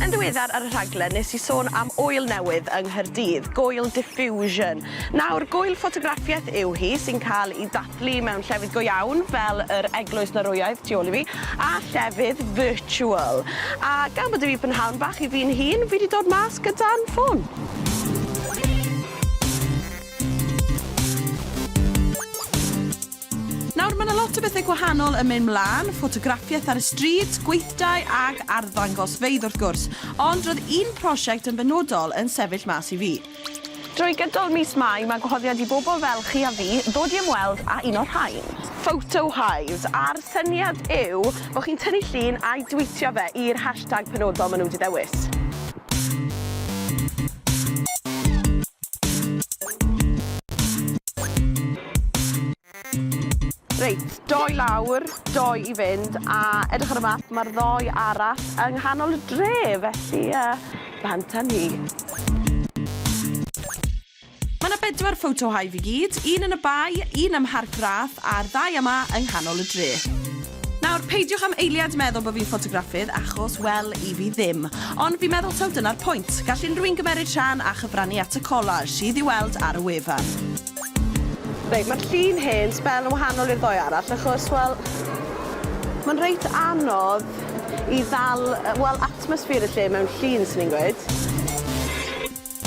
Yn ddiweddar ar y rhaglen nes i sôn am ŵyl newydd yng Nghaerdydd, Goil Diffusion. Nawr, gŵyl ffotograffiaeth yw hi sy'n cael ei dathlu mewn llefydd go iawn fel yr eglwys Norwyaidd tu ôl i fi a llefydd virtual. A gan bod i fi prynhawn bach i fi'n hun, fi 'di dod mas gyda'n ffôn. Nawr, mae yna lot o bethau gwahanol yn mynd mlaen, ffotograffiaeth ar y stryd, gweithdai ac arddangosfeydd wrth gwrs, ond roedd un prosiect yn benodol yn sefyll mas i fi. Drwy gydol mis Mai mae gwahoddiad i bobl fel chi a fi ddod i ymweld â un o'r rhain. Photo Hives, a'r syniad yw bod chi'n tynnu llun a'i dweetio fe i'r hashtag penodol maen nhw wedi ddewis. Reit, dou lawr, dou i fynd, a edrych ar y map, mae'r ddoi arall yng nghanol y dre, felly uh, bant â ni. Mae yna bedwar photo hive i gyd, un yn y bae, un ym Mharc Rath a'r ddau yma yng nghanol y dre. Nawr, peidiwch am eiliad meddwl bod fi'n ffotograffydd, achos, wel, i fi ddim. Ond fi'n meddwl taw dyna'r pwynt. Gall unrhyw un gymeryd rhan a chyfrannu at y collage sydd i'w weld ar y wefan. Reit, mae'r llun hen sbel yn wahanol i'r ddoe arall, achos, wel, mae'n reit anodd i ddal, wel, atmosffer y lle mewn llun, sy'n ni'n gweud.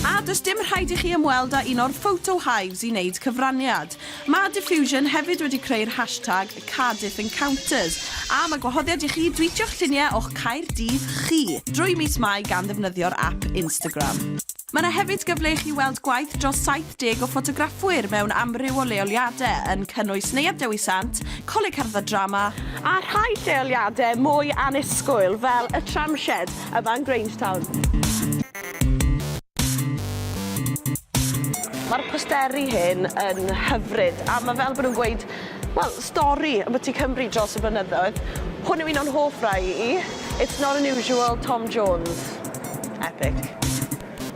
A does dim rhaid i chi ymweld â un o'r photo hives i wneud cyfraniad. Mae Diffusion hefyd wedi creu'r hashtag Cardiff Encounters, a mae gwahoddiad i chi dwîtio'ch lluniau o'ch Caerdydd chi drwy mis Mai gan ddefnyddio'r ap Instagram. Mae yna hefyd gyfle i chi weld gwaith dros 70 o ffotograffwyr mewn amryw o leoliadau, yn cynnwys Neuadd Dewi Sant, Coleg Cerdded Drama, a rhai lleoliadau mwy annisgwyl fel y Tramshed yma yn Grangetown. Mae'r posteri hyn yn hyfryd a mae fel bod nhw'n gweud wel stori ambyti Cymru dros y blynyddoedd. Hwn yw un o'n hoff rai i. It's not unusual Tom Jones. Epic.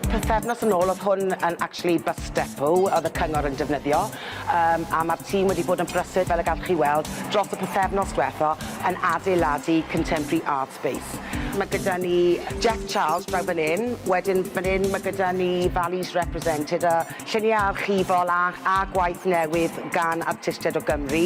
Pythefnos yn ôl oedd hwn yn actually bus depot oedd y cyngor yn defnyddio um, a mae'r tîm wedi bod yn brysur fel y gallwch chi weld dros y pythefnos dwetha yn adeiladu contemporary art Space. Mae gyda ni Jeff Charles draw fan hyn, wedyn fan hyn mae gyda ni Values Represented a lluniau archifol a a gwaith newydd gan artistiaid o Gymru.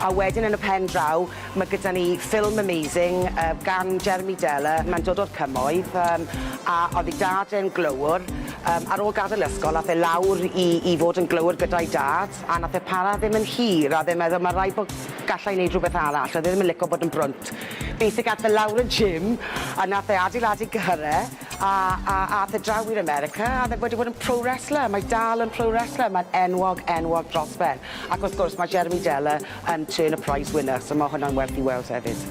A wedyn yn y pen draw mae gyda ni ffilm amazing yy gan Jeremy Deller, mae'n dod o'r Cymoedd yym a oedd ei dad e'n glöwr yym ar ôl gadael ysgol ath e lawr i i fod yn glöwr gyda'i dad a nath e para ddim yn hir a oedd e'n meddwl ma' raid bod galla i neud rhywbeth arall, oedd e ddim yn lico bod yn brwnt. Beth ag ath e lawr y gym a nath e adeiladu cyhyre a a ath e draw i'r America a o'dd e wedi bod yn pro wrestler mae dal yn pro wrestler mae'n enwog enwog dros ben ac wrth gwrs ma' Jeremy Deller yn turn a prize winner so ma' hwnna'n werth i weld hefyd.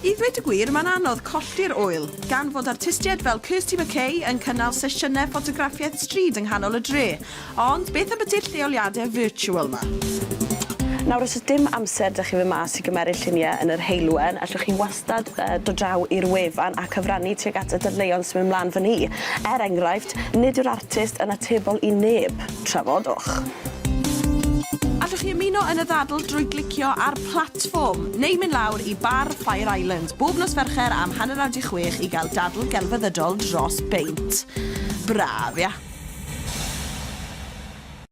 I ddweud y gwir, mae'n anodd colli'r ŵyl, gan fod artistiaid fel Kirsty McKay yn cynnal sesiynau ffotograffiaeth stryd yng nghanol y dre, Ond beth ambiti'r lleoliadau virtual 'ma? Nawr os oes dim amser 'da chi fyn mas i gymeryd lluniau yn yr heulwen, allwch chi wastad yy dod draw i'r wefan a cyfrannu tuag at y dadleuon sy'n mynd mlan fan 'ny. Er enghraifft, nid yw'r artist yn atebol i neb. Trafodwch. Allwch chi ymuno yn y ddadl drwy glicio ar platfform, neu mynd lawr i bar Fire Island bob nos Fercher am hanner awr 'di chwech i gael dadl gelfyddydol dros beint. Braf, ia?